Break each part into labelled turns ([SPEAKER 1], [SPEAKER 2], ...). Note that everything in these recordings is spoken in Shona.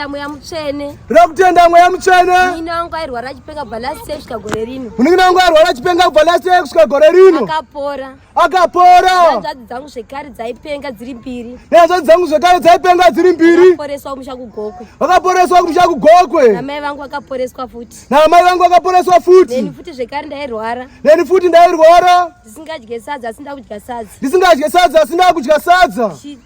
[SPEAKER 1] Tinotenda mweya mutsvene. Tinoda kutenda mweya
[SPEAKER 2] mutsvene. Munin'ina wangu airwara
[SPEAKER 1] chipenga kubva last year kusvika gore rino. Munin'ina wangu airwara chipenga
[SPEAKER 2] kubva last year kusvika gore rino. Akapora.
[SPEAKER 1] Akapora.
[SPEAKER 2] Hanzvadzi dzangu zvekare
[SPEAKER 1] dzaipenga dziri mbiri. Hanzvadzi dzangu zvekare
[SPEAKER 2] dzaipenga dziri mbiri. Vakaporeswa kumusha kuGokwe.
[SPEAKER 1] Vakaporeswa kumusha
[SPEAKER 2] kuGokwe. Namai vangu vakaporeswa
[SPEAKER 1] futi. Namai vangu vakaporeswa
[SPEAKER 2] futi. Neni futi zvekare
[SPEAKER 1] ndairwara. Neni futi ndairwara.
[SPEAKER 2] Ndisingadye sadza
[SPEAKER 1] asi ndakudya sadza. Ndisingadye sadza asi
[SPEAKER 2] ndakudya sadza.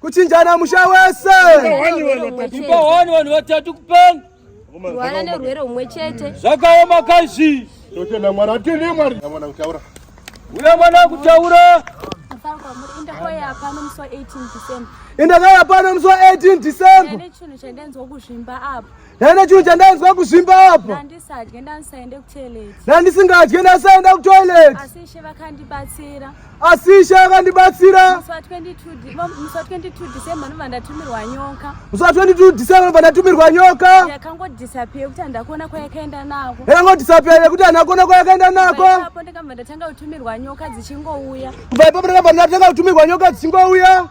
[SPEAKER 3] kuchinjana
[SPEAKER 2] musha wese ipa
[SPEAKER 3] hwani vanhu vatatu kupanga kuwana
[SPEAKER 1] nerwere umwe chete zvakaoma kaizvi
[SPEAKER 2] totenda mwari atini
[SPEAKER 3] mwari mwana kutaura uya mwana
[SPEAKER 2] kutaura
[SPEAKER 1] indakauya pano
[SPEAKER 2] musi wa 18 december ndine chinhu chandanzwa
[SPEAKER 1] kuzvimba apo Nana chinhu chandainzwa
[SPEAKER 2] kuzvimba apa. Handisadye ndanisaende
[SPEAKER 1] kutoilet. Handisingadye ndanisaenda
[SPEAKER 2] kutoilet. Asi Ishe
[SPEAKER 1] vakandibatsira. Asi Ishe
[SPEAKER 2] vakandibatsira. Musi wa 22
[SPEAKER 1] musi wa 22 December ndobva ndatumirwa nyoka. Musi wa 22 December
[SPEAKER 2] ndobva ndatumirwa nyoka. Yakangodisappear kuti
[SPEAKER 1] handakuona kwayakaenda nako. Yakangodisappear yekuti
[SPEAKER 2] handakuona kwayakaenda nako. Ipapo ndakabva ndatanga
[SPEAKER 1] kutumirwa nyoka dzichingouya. Kubva ipapo ndakabva
[SPEAKER 2] ndatanga kutumirwa nyoka dzichingouya.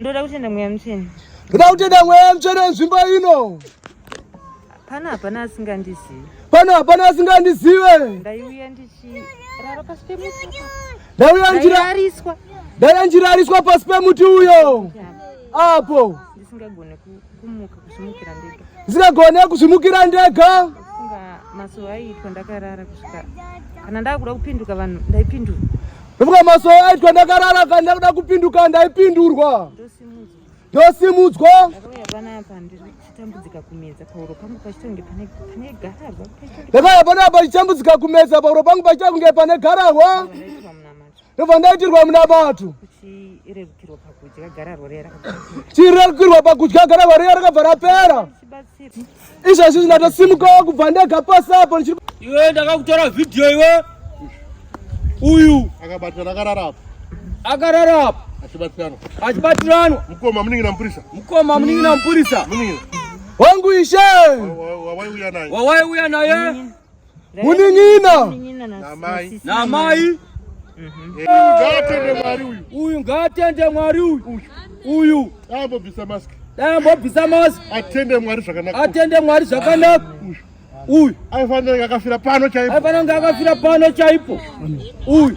[SPEAKER 2] Ndoda
[SPEAKER 4] kutenda mweya mutsvene. Ndoda kutenda mweya
[SPEAKER 2] mutsvene nzvimbo ino.
[SPEAKER 4] Pana hapana asingandizive. Pana hapana
[SPEAKER 2] asingandizive. Ndaiuya
[SPEAKER 4] ndichirara pasi pemuti. Ndaiuya ndichirariswa.
[SPEAKER 2] Ndaiuya ndichirariswa pasi pemuti uyo. Apo. Ndisingagone ku
[SPEAKER 4] ndisingagone kuzvimukira
[SPEAKER 2] ndega masowe
[SPEAKER 4] aiitwa ndakarara kusvika kana ndakuda kupinduka vanhu ndaipindura ndofunga masowe
[SPEAKER 2] aitwa ndakarara kana ndakuda kupinduka ndaipindurwa ndosimudzwa
[SPEAKER 4] ndakauya panapa
[SPEAKER 2] chitambudzika kumedza pahuro pangu pachitange pane garahwa ndobva ndaitirwa munamato
[SPEAKER 4] chirerukirwa pakudya
[SPEAKER 2] gararwa riya rakabva rapera izvozvi zvinatosimukawo kubva ndega pasi apo iwe ndakakutora vhidhiyo iwe uyu akabatirana
[SPEAKER 3] akararapa akararapa
[SPEAKER 2] achibatirana achibatiranwa mukoma muningira
[SPEAKER 3] mupurisa mukoma muningira
[SPEAKER 2] mupurisa muningira
[SPEAKER 3] wangu ishe
[SPEAKER 2] wawaiuya
[SPEAKER 3] naye wawaiuya naye
[SPEAKER 2] Munin'ina
[SPEAKER 3] na mai uyu ngaatende
[SPEAKER 2] Mwari uyu uyu ambobvisa mask
[SPEAKER 3] dai ambobvisa mask
[SPEAKER 2] atende Mwari zvakanaka
[SPEAKER 3] atende Mwari
[SPEAKER 2] zvakanaka uyu aifanira kunge akafira
[SPEAKER 3] pano chaipo aifanira kunge akafira pano
[SPEAKER 2] chaipo uyu